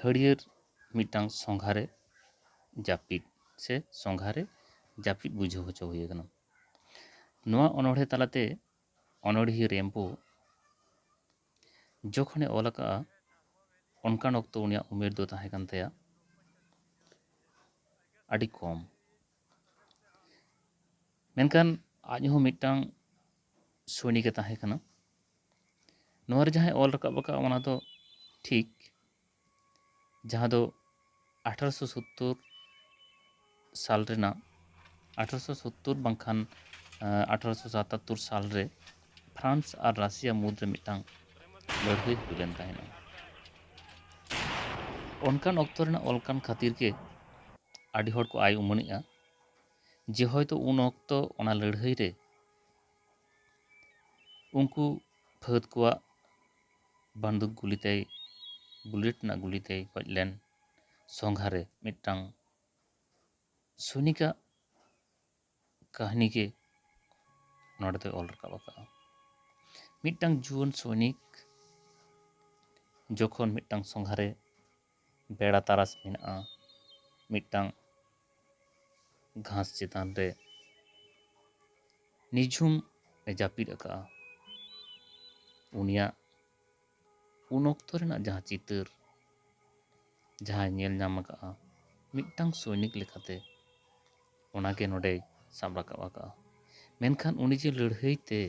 ᱦᱟᱹᱨᱭᱟᱹᱲ ᱢᱤᱫᱴᱟᱝ ᱥᱚᱸᱜᱷᱟ ᱨᱮ ᱡᱟᱹᱯᱤᱫ ᱥᱮ ᱥᱚᱸᱜᱷᱟ ᱨᱮ ᱡᱟᱹᱯᱤᱫ ᱵᱩᱡᱷᱟᱹᱣ ᱦᱚᱪᱚ ᱦᱩᱭ ᱟᱠᱟᱱᱟ ᱱᱚᱣᱟ ᱚᱱᱚᱬᱦᱮ ᱛᱟᱞᱟᱛᱮ ᱚᱱᱚᱬᱦᱤᱭᱟᱹ ᱨᱮᱢᱵᱳ ᱡᱚᱠᱷᱚᱱᱮ ᱚᱞ ᱟᱠᱟᱫᱼᱟ ᱚᱱᱠᱟᱱ ᱚᱠᱛᱚ ᱩᱱᱤᱭᱟᱜ ᱩᱢᱮᱨ ᱫᱚ ᱛᱟᱦᱮᱸ ᱠᱟᱱ ᱛᱟᱭᱟ ᱟᱹᱰᱤ ᱠᱚᱢ ᱢᱮᱱᱠᱷᱟᱱ ᱟᱡ ᱦᱚᱸ ᱢᱤᱫᱴᱟᱝ ᱥᱳᱭᱱᱤᱠᱮ ᱛᱟᱦᱮᱸ ᱠᱟᱱᱟ ᱱᱚᱣᱟ ᱨᱮ ᱡᱟᱦᱟᱸᱭ ᱚᱞ ᱨᱟᱠᱟᱵ ᱟᱠᱟᱫ ᱚᱱᱟ ᱫᱚ ᱴᱷᱤᱠ ᱡᱟᱦᱟᱸ ᱫᱚ ᱟᱴᱷᱟᱨᱚᱥᱚ ᱥᱳᱛᱛᱳᱨ ᱥᱟᱞ ᱨᱮᱱᱟᱜ ᱟᱴᱷᱟᱨᱚᱥᱚ ᱥᱳᱛᱛᱳᱨ ᱵᱟᱝᱠᱷᱟᱱ ᱟᱴᱷᱟᱨᱚᱥᱚ ᱥᱟᱛᱟᱛᱛᱳᱨ ᱥᱟᱞ ᱨᱮ ᱯᱷᱨᱟᱱᱥ ᱟᱨ ᱨᱟᱥᱤᱭᱟ ᱢᱩᱫᱽ ᱨᱮ ᱢᱤᱫᱴᱟᱝ ᱞᱟᱹᱲᱦᱟᱹᱭ ᱦᱩᱭ ᱞᱮᱱ ᱛᱟᱦᱮᱱᱟ ᱚᱱᱠᱟᱱ ᱚᱠᱛᱚ ᱨᱮᱱᱟᱜ ᱚᱞ ᱠᱟᱱ ᱠᱷᱟᱹᱛᱤᱨ ᱜᱮ ᱟᱹᱰᱤ ᱦᱚᱲ ᱠᱚ ᱟᱭ ᱩᱢᱟᱹᱱᱮᱜᱼᱟ ᱡᱮ ᱦᱚᱭᱛᱳ ᱩᱱ ᱚᱠᱛᱚ ᱚᱱᱟ ᱞᱟᱹᱲᱦᱟᱹᱭ ᱨᱮ ᱩᱱᱠᱩ ᱯᱷᱟᱹᱫᱽ ᱠᱚᱣᱟᱜ ᱵᱟᱱᱫᱩᱠ ᱜᱩᱞᱤ ᱛᱮᱭ ᱵᱩᱞᱮᱴ ᱨᱮᱱᱟᱜ ᱜᱩᱞᱤ ᱛᱮᱭ ᱜᱚᱡ ᱞᱮᱱ ᱥᱚᱸᱜᱷᱟ ᱨᱮ ᱢᱤᱫᱴᱟᱝ ᱥᱚᱭᱱᱤᱠᱟᱜ ᱠᱟᱹᱦᱱᱤ ᱜᱮ ᱱᱚᱸᱰᱮ ᱫᱚᱭ ᱚᱞ ᱨᱟᱠᱟᱵ ᱟᱠᱟᱫᱼᱟ ᱢᱤᱫᱴᱟᱝ ᱡᱩᱣᱟᱹᱱ ᱥᱚᱭᱱᱤᱠ ᱡᱚᱠᱷᱚᱱ ᱢᱤᱫᱴᱟᱝ ᱥᱚᱸᱜᱷᱟ ᱨᱮ ᱵᱮᱲᱟ ᱛᱟᱨᱟᱥ ᱢᱮᱱᱟᱜᱼᱟ ᱢᱤᱫᱴᱟᱝ ᱜᱷᱟᱸᱥ ᱪᱮᱛᱟᱱ ᱨᱮ ᱱᱤᱡᱷᱩᱢ ᱮ ᱡᱟᱹᱯᱤᱫ ᱟᱠᱟᱫᱼᱟ ᱩᱱᱤᱭᱟᱜ ᱩᱱ ᱚᱠᱛᱚ ᱨᱮᱱᱟᱜ ᱡᱟᱦᱟᱸ ᱪᱤᱛᱟᱹᱨ ᱡᱟᱦᱟᱸᱭ ᱧᱮᱞ ᱧᱟᱢ ᱟᱠᱟᱫᱼᱟ ᱢᱤᱫᱴᱟᱝ ᱥᱳᱭᱱᱤᱠ ᱞᱮᱠᱟᱛᱮ ᱚᱱᱟ ᱜᱮ ᱱᱚᱰᱮᱭ ᱥᱟᱵ ᱨᱟᱠᱟᱵ ᱟᱠᱟᱫᱼᱟ ᱢᱮᱱᱠᱷᱟᱱ ᱩᱱᱤ ᱡᱮ ᱞᱟᱹᱲᱦᱟᱹᱭ ᱛᱮ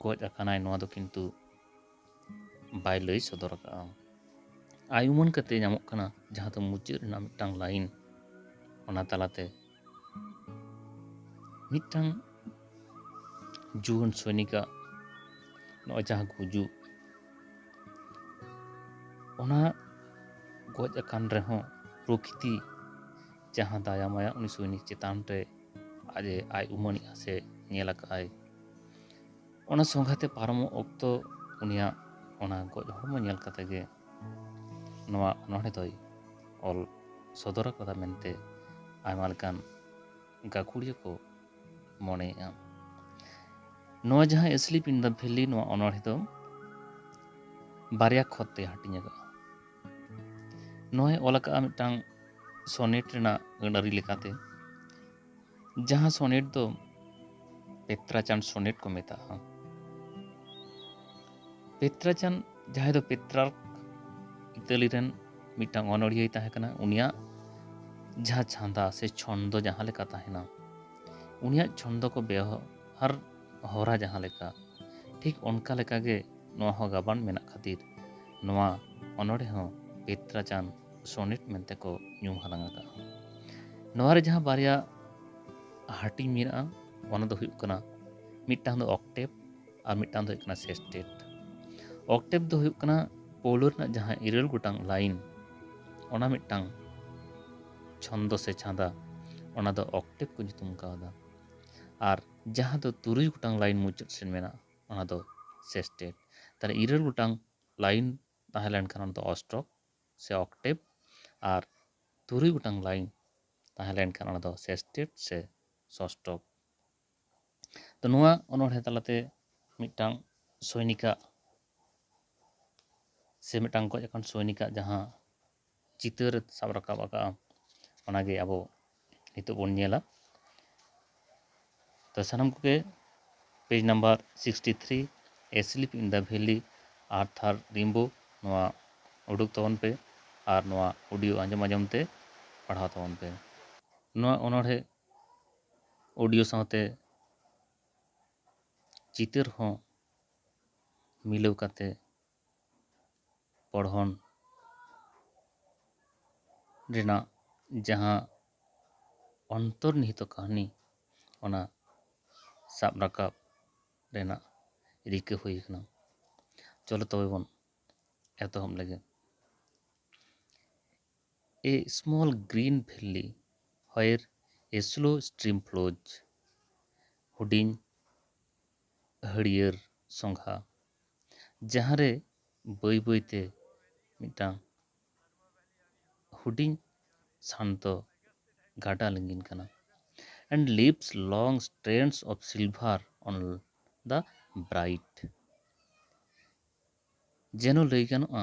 ᱜᱚᱡ ᱟᱠᱟᱱᱟᱭ ᱱᱚᱣᱟ ᱫᱚ ᱠᱤᱱᱛᱩ ᱵᱟᱭ ᱞᱟᱹᱭ ᱥᱚᱫᱚᱨ ᱟᱠᱟᱫᱼᱟ ᱟᱭ ᱩᱢᱟᱹᱱ ᱠᱟᱛᱮ ᱧᱟᱢᱚᱜ ᱠᱟᱱᱟ ᱡᱟᱦᱟᱸ ᱫᱚ ᱢᱩᱪᱟᱹᱫ ᱨᱮᱱᱟᱜ ᱢᱤᱫᱴᱟᱝ ᱞᱟᱭᱤᱱ ᱚᱱᱟ ᱛᱟᱞᱟᱛᱮ ᱢᱤᱫᱴᱟᱝ ᱡᱩᱣᱟᱹᱱ ᱥᱚᱭᱱᱤᱠᱟᱜ ᱱᱚᱜᱼᱚᱭ ᱡᱟᱦᱟᱸ ᱜᱩᱡᱩᱜ ᱚᱱᱟ ᱜᱚᱡ ᱟᱠᱟᱱ ᱨᱮᱦᱚᱸ ᱯᱨᱚᱠᱤᱛᱤ ᱡᱟᱦᱟᱸ ᱫᱟᱭᱟ ᱢᱟᱭᱟ ᱩᱱᱤ ᱥᱚᱭᱱᱤᱠ ᱪᱮᱛᱟᱱ ᱨᱮ ᱟᱡ ᱟᱡ ᱩᱢᱟᱹᱱᱮᱜᱼᱟ ᱥᱮ ᱧᱮᱞ ᱟᱠᱟᱫᱼᱟᱭ ᱚᱱᱟ ᱥᱚᱸᱜᱷᱟᱛᱮ ᱯᱟᱨᱚᱢᱚᱜ ᱚᱠᱛᱚ ᱩᱱᱤᱭᱟᱜ ᱚᱱᱟ ᱜᱚᱡ ᱦᱚᱲᱢᱚ ᱧᱮᱞ ᱠᱟᱛᱮ ᱜᱮ ᱱᱚᱣᱟ ᱚᱱᱚᱬᱦᱮ ᱫᱚᱭ ᱚᱞ ᱥᱚᱫᱚᱨ ᱟᱠᱟᱫᱟ ᱢᱮᱱᱛᱮ ᱟᱭᱢᱟ ᱞᱮᱠᱟᱱ ᱜᱟᱹᱠᱷᱩᱲᱤᱭᱟᱹ ᱠᱚ ᱢᱚᱱᱮᱭᱮᱫᱼᱟ ᱱᱚᱣᱟ ᱡᱟᱦᱟᱸ ᱮᱥᱞᱤᱯ ᱤᱱ ᱫᱟ ᱵᱷᱮᱞᱤ ᱱᱚᱣᱟ ᱚᱱᱚᱬᱦᱮ ᱫᱚ ᱵᱟᱨᱭᱟ ᱠᱷᱚᱛ ᱛᱮ ᱦᱟᱹᱴᱤᱧ ᱟᱠᱟᱫᱼᱟ ᱱᱚᱣᱟᱭ ᱚᱞ ᱟᱠᱟᱫᱼᱟ ᱢᱤᱫᱴᱟᱝ ᱥᱚᱱᱮᱴ ᱨᱮᱱᱟᱜ ᱟᱹᱱᱟᱹᱨᱤ ᱞᱮᱠᱟᱛᱮ ᱡᱟᱦᱟᱸ ᱥᱚᱱᱮᱴ ᱫᱚ ᱯᱮᱛᱨᱟᱪᱟᱱ ᱥᱚᱱᱮᱴ ᱠᱚ ᱢᱮᱛᱟᱜᱼᱟ ᱯᱮᱛᱨᱟᱪᱟᱱ ᱡᱟᱦᱟᱸᱭ ᱫᱚ ᱯᱮᱛᱨᱟᱨᱠ ᱤᱛᱟᱹᱞᱤ ᱨᱮᱱ ᱢᱤᱫᱴᱟᱝ ᱚᱱᱚᱲᱦᱤᱭᱟᱹᱭ ᱛᱟᱦᱮᱸ ᱠᱟᱱᱟ ᱩᱱᱤᱭᱟᱜ ᱡᱟᱦᱟᱸ ᱪᱷᱟᱸᱫᱟ ᱥᱮ ᱪᱷᱚᱱᱫᱚ ᱡᱟᱦᱟᱸ ᱞᱮᱠᱟ ᱛᱟᱦᱮᱱᱟ ᱩᱱᱤᱭᱟᱜ ᱪᱷᱚᱱᱫᱚ ᱠᱚ ᱵᱮᱣᱦᱟᱨ ᱦᱚᱨᱟ ᱡᱟᱦᱟᱸ ᱞᱮᱠᱟ ᱴᱷᱤᱠ ᱚᱱᱠᱟ ᱞᱮᱠᱟᱜᱮ ᱱᱚᱣᱟ ᱦᱚᱸ ᱜᱟᱵᱟᱱ ᱢᱮᱱᱟᱜ ᱠᱷᱟᱹᱛᱤᱨ ᱱᱚᱣᱟ ᱚᱱᱚᱲᱦᱮ ᱦᱚᱸ ᱯᱮᱛᱨᱟᱪᱟᱱ ᱥᱚᱱᱮᱴ ᱢᱮᱱᱛᱮ ᱠᱚ ᱧᱩᱢ ᱦᱟᱞᱟᱝ ᱟᱠᱟᱫᱼᱟ ᱱᱚᱣᱟ ᱨᱮ ᱡᱟᱦᱟᱸ ᱵᱟᱨᱭᱟ ᱦᱟᱹᱴᱤᱧ ᱢᱮᱱᱟᱜᱼᱟ ᱚᱱᱟ ᱫᱚ ᱦᱩᱭᱩᱜ ᱠᱟᱱᱟ ᱢᱤᱫᱴᱟᱝ ᱫᱚ ᱚᱠᱴᱮᱵᱽ ᱟᱨ ᱢᱤᱫᱴᱟᱝ ᱫᱚ ᱦᱩᱭᱩᱜ ᱠᱟᱱᱟ ᱥᱮᱥᱴᱮᱴ ᱚᱠᱴᱮᱵᱽ ᱫᱚ ᱦᱩᱭᱩᱜ ᱠᱟᱱᱟ ᱯᱳᱣᱞᱳ ᱨᱮᱱᱟᱜ ᱡᱟᱦᱟᱸ ᱤᱨᱟᱹᱞ ᱜᱚᱴᱟᱝ ᱞᱟᱭᱤᱱ ᱚᱱᱟ ᱢᱤᱫᱴᱟᱝ ᱪᱷᱚᱱᱫᱚ ᱥᱮ ᱪᱷᱟᱸᱫᱟ ᱚᱱᱟ ᱫᱚ ᱚᱠᱴᱮᱵᱽ ᱠᱚ ᱧᱩᱛᱩᱢ ᱠᱟᱣᱫᱟ ᱟᱨ ᱡᱟᱦᱟᱸ ᱫᱚ ᱛᱩᱨᱩᱭ ᱜᱚᱴᱟᱝ ᱞᱟᱭᱤᱱ ᱢᱩᱪᱟᱹᱫ ᱥᱮᱫ ᱢᱮᱱᱟᱜᱼᱟ ᱚᱱᱟ ᱫᱚ ᱥᱮᱥᱴᱮᱴ ᱛᱟᱦᱚᱞᱮ ᱤᱨᱟᱹᱞ ᱜᱚᱴᱟᱝ ᱞᱟᱭᱤᱱ ᱛᱟᱦᱮᱸ ᱞᱮᱱᱠᱷᱟᱱ ᱚᱱᱟ ᱫᱚ ᱚᱥᱴᱚᱠ ᱥᱮ ᱚᱠᱴᱮᱵᱽ ᱟᱨ ᱛᱩᱨᱩᱭ ᱜᱚᱴᱟᱝ ᱞᱟᱭᱤᱱ ᱛᱟᱦᱮᱸ ᱞᱮᱱᱠᱷᱟᱱ ᱚᱱᱟ ᱫᱚ ᱥᱮᱥᱴᱮᱴ ᱥᱮ ᱥᱚᱥᱴᱚᱠ ᱛᱚ ᱱᱚᱣᱟ ᱚᱱᱚᱬᱦᱮᱸ ᱛᱟᱞᱟᱛᱮ ᱢᱤᱫᱴᱟᱝ ᱥᱳᱭᱱᱤᱠᱟᱜ ᱥᱮ ᱢᱤᱫᱴᱟᱝ ᱜᱚᱡ ᱟᱠᱟᱱ ᱥᱳᱭᱱᱤᱠᱟᱜ ᱡᱟᱦᱟᱸ ᱪᱤᱛᱟᱹᱨ ᱥᱟᱵ ᱨᱟᱠᱟᱵ ᱟᱠᱟᱜᱼᱟ ᱚᱱᱟᱜᱮ ᱟᱵᱚ ᱱᱤᱛᱚᱜ ᱵᱚᱱ ᱧᱮᱞᱟ ᱛᱚ ᱥᱟᱱᱟᱢ ᱠᱚᱜᱮ page number sixty three a slip in the belly ᱟᱨ ᱛᱷᱟᱨ ᱨᱤᱢᱵᱳ ᱱᱚᱣᱟ ᱩᱰᱩᱠ ᱛᱟᱵᱚᱱ ᱯᱮ ᱟᱨ ᱱᱚᱣᱟ ᱚᱰᱤᱭᱳ ᱟᱸᱡᱚᱢ ᱟᱸᱡᱚᱢ ᱛᱮ ᱯᱟᱲᱦᱟᱣ ᱛᱟᱵᱚᱱ ᱯᱮ ᱱᱚᱣᱟ ᱚᱱᱚᱬᱦᱮᱸ ᱚᱰᱤᱭᱳ ᱥᱟᱶᱛᱮ ᱪᱤᱛᱟᱹᱨ ᱦᱚᱸ ᱢᱤᱞᱟᱹᱣ ᱠᱟᱛᱮ ᱯᱚᱲᱦᱚᱱ ᱨᱮᱱᱟᱜ ᱡᱟᱦᱟᱸ ᱚᱱᱛᱚᱨᱱᱤᱦᱤᱛᱚ ᱠᱟᱹᱦᱱᱤ ᱚᱱᱟ ᱥᱟᱵ ᱨᱟᱠᱟᱵ ᱨᱮᱱᱟᱜ ᱨᱤᱠᱟᱹ ᱦᱩᱭ ᱟᱠᱟᱱᱟ ᱪᱚᱞᱚ ᱛᱚᱵᱮ ᱵᱚᱱ ᱮᱛᱚᱦᱚᱵ ᱞᱮᱜᱮ ᱮ ᱥᱢᱚᱞ ᱜᱨᱤᱱ ᱵᱷᱮᱞᱞᱤ ᱦᱚᱭᱮᱨ ᱮ ᱥᱞᱳ ᱥᱴᱨᱤᱢ ᱯᱷᱞᱳᱡᱽ ᱦᱩᱰᱤᱧ ᱦᱟᱹᱨᱭᱟᱹᱲ ᱥᱚᱸᱜᱷᱟ ᱡᱟᱦᱟᱸ ᱨᱮ ᱵᱟᱹᱭ ᱵᱟᱹᱭ ᱛᱮ ᱢᱤᱫᱴᱟᱝ ᱦᱩᱰᱤᱧ ᱥᱟᱱᱛᱚ ᱜᱟᱰᱟ ᱞᱤᱸᱜᱤᱱ ᱠᱟᱱᱟ and leaves long strands of silver on the bright ᱡᱮᱱᱚ ᱞᱟᱹᱭ ᱜᱟᱱᱚᱜᱼᱟ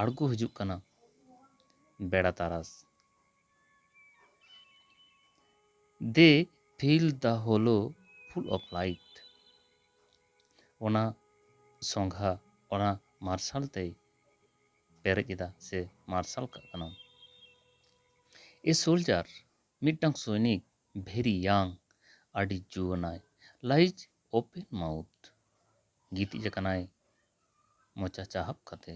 ᱟᱬᱜᱚ ᱦᱤᱡᱩᱜ ᱠᱟᱱᱟ ᱵᱮᱲᱟ ᱛᱟᱨᱟᱥ ᱫᱮ fill the hollow full of light ᱚᱱᱟ ᱥᱚᱸᱜᱷᱟ ᱚᱱᱟ ᱢᱟᱨᱥᱟᱞ ᱛᱮᱭ ᱯᱮᱨᱮᱡ ᱮᱫᱟ ᱥᱮ ᱢᱟᱨᱥᱟᱞ ᱠᱟᱜ ᱠᱟᱱᱟ ᱮ ᱥᱳᱞᱡᱟᱨ ᱢᱤᱫᱴᱟᱝ ᱥᱚᱭᱱᱤᱠ ᱵᱷᱮᱨᱤ ᱭᱟᱝ ᱟᱹᱰᱤ ᱡᱩᱣᱟᱹᱱᱟᱭ ᱞᱟᱭᱤᱡᱽ ᱳᱯᱮᱱ ᱢᱟᱣᱩᱛᱷ ᱜᱤᱛᱤᱡ ᱟᱠᱟᱱᱟᱭ ᱢᱚᱪᱟ ᱪᱟᱦᱟᱵ ᱠᱟᱛᱮ᱾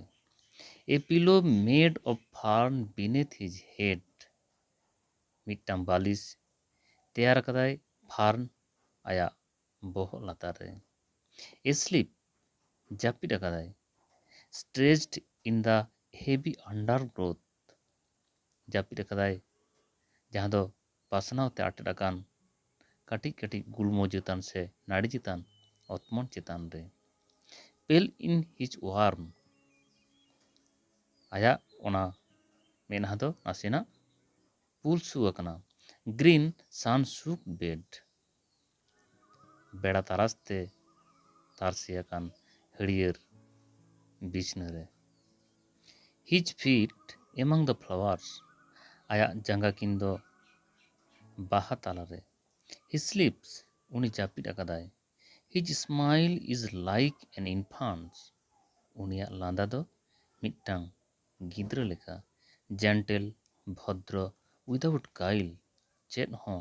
A pillow made of fern beneath his head ᱢᱤᱫᱴᱟᱝ ᱵᱟᱞᱤᱥ ᱛᱮᱭᱟᱨ ᱟᱠᱟᱫᱟᱭ ᱯᱷᱟᱨᱱ ᱟᱭᱟᱜ ᱵᱚᱦᱚᱜ ᱞᱟᱛᱟᱨ ᱨᱮ᱾ ᱮᱥᱞᱤᱯ ᱡᱟᱹᱯᱤᱫ ᱟᱠᱟᱫᱟᱭ stretched in the heavy undergrowth ᱜᱨᱳᱛᱷ ᱡᱟᱹᱯᱤᱫ ᱟᱠᱟᱫᱟᱭ ᱡᱟᱦᱟᱸ ᱫᱚ ᱯᱟᱥᱱᱟᱣ ᱛᱮ ᱟᱴᱮᱫ ᱟᱠᱟᱱ ᱠᱟᱹᱴᱤᱡ ᱠᱟᱹᱴᱤᱡ ᱜᱩᱞᱢᱚ ᱪᱮᱛᱟᱱ ᱥᱮ ᱱᱟᱹᱲᱤ ᱪᱮᱛᱟᱱ ᱚᱛᱢᱚᱱ ᱪᱮᱛᱟᱱ ᱨᱮ᱾ ᱯᱮᱞ ᱤᱱ ᱦᱤᱡᱽ ᱳᱣᱟᱨᱢ ᱟᱭᱟᱜ ᱚᱱᱟ ᱢᱮᱫᱦᱟ ᱫᱚ ᱱᱟᱥᱮᱱᱟᱜ ᱯᱩᱞᱥᱩ ᱟᱠᱟᱱᱟ᱾ ᱜᱨᱤᱱ ᱥᱟᱱ ᱥᱩᱠ ᱵᱮᱰ᱾ ᱵᱮᱲᱟ ᱛᱟᱨᱟᱥ ᱛᱮ ᱛᱟᱨᱥᱮ ᱟᱠᱟᱱ ᱦᱟᱹᱲᱭᱟᱹᱨ ᱵᱤᱪᱷᱱᱟᱹ ᱨᱮ᱾ ᱦᱤᱡᱽ ᱯᱷᱤᱴ ᱮᱢᱟᱝ ᱫᱟ ᱯᱷᱞᱟᱣᱟᱨᱥ ᱟᱭᱟᱜ ᱡᱟᱸᱜᱟ ᱠᱤᱱ ᱫᱚ ᱵᱟᱦᱟ ᱛᱟᱞᱟ ᱨᱮ᱾ ᱦᱤ ᱥᱞᱤᱯᱥ ᱩᱱᱤ ᱡᱟᱹᱯᱤᱫ ᱟᱠᱟᱫᱟᱭ᱾ ᱦᱤᱡᱽ ᱥᱢᱟᱭᱤᱞ ᱤᱡᱽ ᱞᱟᱭᱤᱠ ᱮᱱ ᱤᱱᱯᱷᱟᱱᱴᱥ ᱩᱱᱤᱭᱟᱜ ᱞᱟᱸᱫᱟ ᱫᱚ ᱢᱤᱫᱴᱟᱝ ᱜᱤᱫᱽᱨᱟᱹ ᱞᱮᱠᱟ᱾ ᱡᱮᱱᱴᱮᱞ, ᱵᱷᱚᱫᱽᱨᱚ, ᱩᱭᱫᱟᱣᱩᱴ ᱜᱟᱭᱤᱞ ᱪᱮᱫ ᱦᱚᱸ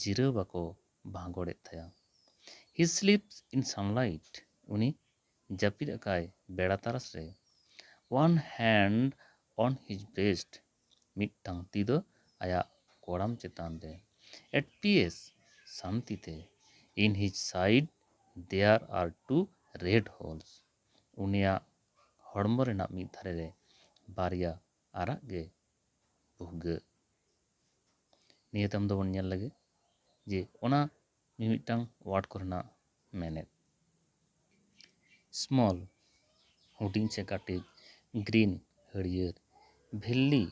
ᱡᱤᱨᱟᱹᱣ ᱵᱟᱠᱚ ᱵᱷᱟᱸᱜᱚᱲ ᱮᱫ ᱛᱟᱭᱟ᱾ ᱦᱤ ᱥᱞᱤᱯᱥ ᱤᱱ ᱥᱟᱱᱞᱟᱭᱤᱴ, ᱩᱱᱤ ᱡᱟᱹᱯᱤᱫ ᱟᱠᱟᱜᱼᱟᱭ ᱵᱮᱲᱟ ᱛᱟᱨᱟᱥ ᱨᱮ᱾ One hand on his breast, ᱢᱤᱫᱴᱟᱝ ᱛᱤ ᱫᱚ ᱟᱭᱟᱜ ᱠᱚᱲᱟᱢ ᱪᱮᱛᱟᱱ ᱨᱮ᱾ ᱮᱴ ᱯᱤᱭᱮᱥ, ᱥᱟᱱᱛᱤ ᱛᱮ᱾ In his side there are two red holes, ᱩᱱᱤᱭᱟᱜ ᱦᱚᱲᱢᱚ ᱨᱮᱱᱟᱜ ᱢᱤᱫ ᱫᱷᱟᱨᱮ ᱨᱮ ᱵᱟᱨᱭᱟ ᱟᱨᱟᱜ ᱜᱮ ᱵᱷᱩᱜᱟᱹᱜ ᱱᱤᱭᱟᱹ ᱛᱟᱭᱚᱢ ᱫᱚᱵᱚᱱ ᱧᱮᱞ ᱞᱮᱜᱮ ᱡᱮ ᱚᱱᱟ ᱢᱤᱢᱤᱫᱴᱟᱝ ᱳᱣᱟᱨᱰ ᱠᱚᱨᱮᱱᱟᱜ ᱢᱮᱱᱮᱛ ᱥᱢᱚᱞ ᱦᱩᱰᱤᱧ ᱥᱮ ᱠᱟᱹᱴᱤᱡ ᱜᱨᱤᱱ ᱦᱟᱹᱨᱭᱟᱹᱲ ᱵᱷᱮᱞᱞᱤ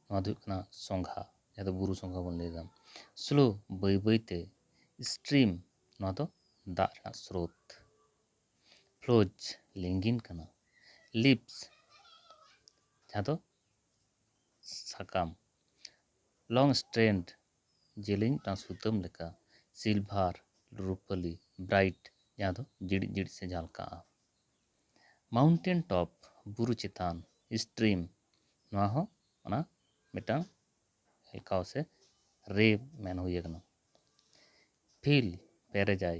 ᱱᱚᱣᱟ ᱫᱚ ᱦᱩᱭᱩᱜ ᱠᱟᱱᱟ ᱥᱚᱸᱜᱷᱟ ᱡᱟᱦᱟᱸ ᱫᱚ ᱵᱩᱨᱩ ᱥᱚᱸᱜᱷᱟ ᱵᱚᱱ ᱞᱟᱹᱭᱫᱟ ᱥᱞᱳ ᱵᱟᱹᱭ ᱵᱟᱹᱭᱛᱮ ᱥᱴᱨᱤᱢ ᱱᱚᱣᱟ ᱫᱚ ᱫᱟᱜ ᱨᱮᱱᱟᱜ ᱥᱨᱳᱛ ᱯᱷᱞᱳᱡᱽ ᱞᱤᱸᱜᱤᱱ ᱠᱟᱱᱟ ᱞᱤᱵᱷᱥ ᱡᱟᱦᱟᱸ ᱫᱚ ᱥᱟᱠᱟᱢ ᱞᱚᱝ ᱥᱴᱨᱮᱱᱰ ᱡᱮᱞᱮᱧ ᱴᱟᱝ ᱥᱩᱛᱟᱹᱢ ᱞᱮᱠᱟ ᱥᱤᱞᱵᱷᱟᱨ ᱨᱩᱯᱟᱹᱞᱤ ᱵᱨᱟᱭᱤᱴ ᱡᱟᱦᱟᱸ ᱫᱚ ᱡᱤᱲᱤᱡ ᱡᱤᱲᱤᱡ ᱥᱮ ᱡᱷᱟᱞᱠᱟᱜᱼᱟ ᱢᱟᱣᱩᱱᱴᱮᱱ ᱴᱚᱯ ᱵᱩᱨᱩ ᱪᱮᱛᱟᱱ ᱥᱴᱨᱤᱢ ᱱᱚᱣᱟ ᱦᱚᱸ ᱚᱱᱟ ᱢᱤᱫᱴᱟᱝ ᱦᱮᱞᱠᱟᱣ ᱥᱮ ᱨᱮ ᱢᱮᱱ ᱦᱩᱭ ᱟᱠᱟᱱᱟ ᱯᱷᱤᱞ ᱯᱮᱨᱮᱡᱟᱭ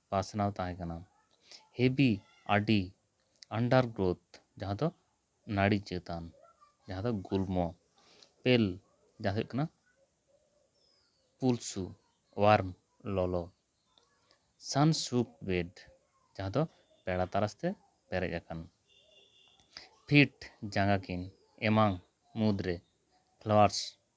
ᱯᱟᱥᱱᱟᱣ ᱛᱟᱦᱮᱸ ᱠᱟᱱᱟ᱾ ᱦᱮᱵᱤ ᱟᱹᱰᱤ ᱟᱱᱰᱟᱨᱜᱨᱳᱛᱷ ᱡᱟᱦᱟᱸ ᱫᱚ ᱱᱟᱹᱲᱤ ᱪᱮᱛᱟᱱ ᱡᱟᱦᱟᱸ ᱫᱚ ᱜᱩᱞᱢᱚ, ᱯᱮᱞ ᱡᱟᱦᱟᱸ ᱫᱚ ᱦᱩᱭᱩᱜ ᱠᱟᱱᱟ ᱯᱩᱞᱥᱩ, ᱣᱟᱨᱢ ᱞᱚᱞᱚ, ᱥᱟᱱ-ᱥᱳᱠᱰ ᱵᱮᱰ ᱡᱟᱦᱟᱸ ᱫᱚ ᱯᱮᱲᱟ ᱛᱟᱨᱟᱥ ᱛᱮ ᱯᱮᱨᱮᱡ ᱟᱠᱟᱱ᱾ ᱯᱷᱤᱴ ᱡᱟᱸᱜᱟ ᱠᱤᱱ ᱮᱢᱟᱝ ᱢᱩᱫᱽ ᱨᱮ ᱯᱷᱞᱟᱣᱟᱨᱥ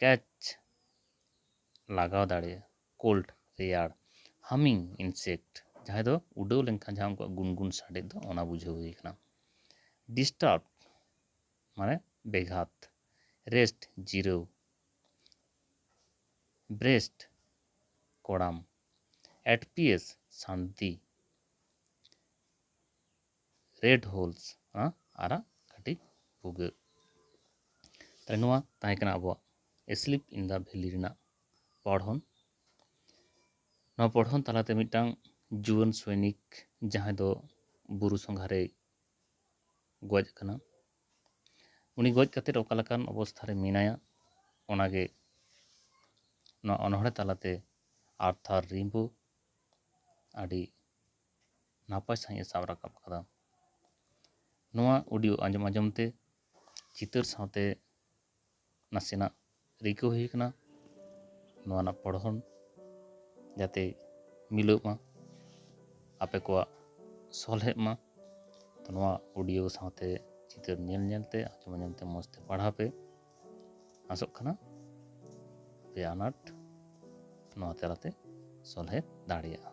ᱠᱮᱪ ᱞᱟᱜᱟᱣ ᱫᱟᱲᱮᱭᱟᱜᱼᱟ ᱠᱳᱞᱰ ᱨᱮᱭᱟᱲ ᱦᱟᱢᱤᱝ ᱤᱱᱥᱮᱠᱴ ᱡᱟᱦᱟᱸᱭ ᱫᱚ ᱩᱰᱟᱹᱣ ᱞᱮᱱᱠᱷᱟᱱ ᱡᱟᱦᱟᱸ ᱩᱱᱠᱩᱣᱟᱜ ᱜᱩᱱᱜᱩᱱ ᱥᱟᱰᱮ ᱫᱚ ᱚᱱᱟ ᱵᱩᱡᱷᱟᱹᱣ ᱦᱩᱭ ᱠᱟᱱᱟ ᱰᱤᱥᱴᱟᱨᱵ ᱢᱟᱱᱮ ᱵᱮᱜᱷᱟᱛ ᱨᱮᱥᱴ ᱡᱤᱨᱟᱹᱣ ᱵᱨᱮᱥᱴ ᱠᱚᱲᱟᱢ ᱮᱴᱯᱤᱭᱮᱥ ᱥᱟᱱᱛᱤ ᱨᱮᱰ ᱦᱳᱞᱥ ᱚᱱᱟ ᱟᱨᱟᱜ ᱠᱟᱹᱴᱤᱡ ᱵᱷᱩᱜᱟᱹᱜ ᱛᱟᱦᱚᱞᱮ ᱱᱚᱣᱟ ᱛᱟᱦᱮᱸ ᱠᱟᱱᱟ ᱟᱵᱚᱣᱟᱜ ᱮᱥᱞᱤᱯ ᱤᱱ ᱫᱟ ᱵᱷᱮᱞᱤ ᱨᱮᱱᱟᱜ ᱯᱚᱲᱦᱚᱱ ᱱᱚᱣᱟ ᱯᱚᱲᱦᱚᱱ ᱛᱟᱞᱟᱛᱮ ᱢᱤᱫᱴᱟᱝ ᱡᱩᱣᱟᱹᱱ ᱥᱚᱭᱱᱤᱠ ᱡᱟᱦᱟᱸᱭ ᱫᱚ ᱵᱩᱨᱩ ᱥᱚᱸᱜᱷᱟᱨᱮ ᱜᱚᱡ ᱟᱠᱟᱱᱟ ᱩᱱᱤ ᱜᱚᱡ ᱠᱟᱛᱮᱫ ᱚᱠᱟ ᱞᱮᱠᱟᱱ ᱚᱵᱚᱥᱛᱷᱟ ᱨᱮ ᱢᱮᱱᱟᱭᱟ ᱚᱱᱟᱜᱮ ᱱᱚᱣᱟ ᱚᱱᱚᱬᱦᱮ ᱛᱟᱞᱟᱛᱮ ᱟᱨᱛᱷᱟᱨ ᱨᱤᱢᱵᱳ ᱟᱹᱰᱤ ᱱᱟᱯᱟᱭ ᱥᱟᱺᱦᱤᱡ ᱮ ᱥᱟᱵ ᱨᱟᱠᱟᱵ ᱟᱠᱟᱫᱟ᱾ ᱱᱚᱣᱟ ᱚᱰᱤᱭᱳ ᱟᱸᱡᱚᱢ ᱟᱸᱡᱚᱢ ᱛᱮ ᱪᱤᱛᱟᱹᱨ ᱥᱟᱶᱛᱮ ᱱᱟᱥᱮᱱᱟᱜ ᱨᱤᱠᱟᱹ ᱦᱩᱭ ᱟᱠᱟᱱᱟ ᱱᱚᱣᱟ ᱨᱮᱱᱟᱜ ᱯᱚᱲᱦᱚᱱ ᱡᱟᱛᱮ ᱢᱤᱞᱟᱹᱜ ᱢᱟ ᱟᱯᱮ ᱠᱚᱣᱟᱜ ᱥᱚᱞᱦᱮᱜ ᱢᱟ ᱛᱚ ᱱᱚᱣᱟ ᱚᱰᱤᱭᱳ ᱥᱟᱶᱛᱮ ᱪᱤᱛᱟᱹᱨ ᱧᱮᱞ ᱧᱮᱞ ᱛᱮ ᱟᱸᱡᱚᱢ ᱟᱸᱡᱚᱢ ᱛᱮ ᱢᱚᱡᱽ ᱛᱮ ᱯᱟᱲᱦᱟᱣ ᱯᱮ ᱟᱥᱚᱜ ᱠᱟᱱᱟ ᱯᱮ ᱟᱱᱟᱴ ᱱᱚᱣᱟ ᱛᱟᱞᱟᱛᱮ ᱥᱚᱞᱦᱮ ᱫᱟᱲᱮᱭᱟᱜᱼᱟ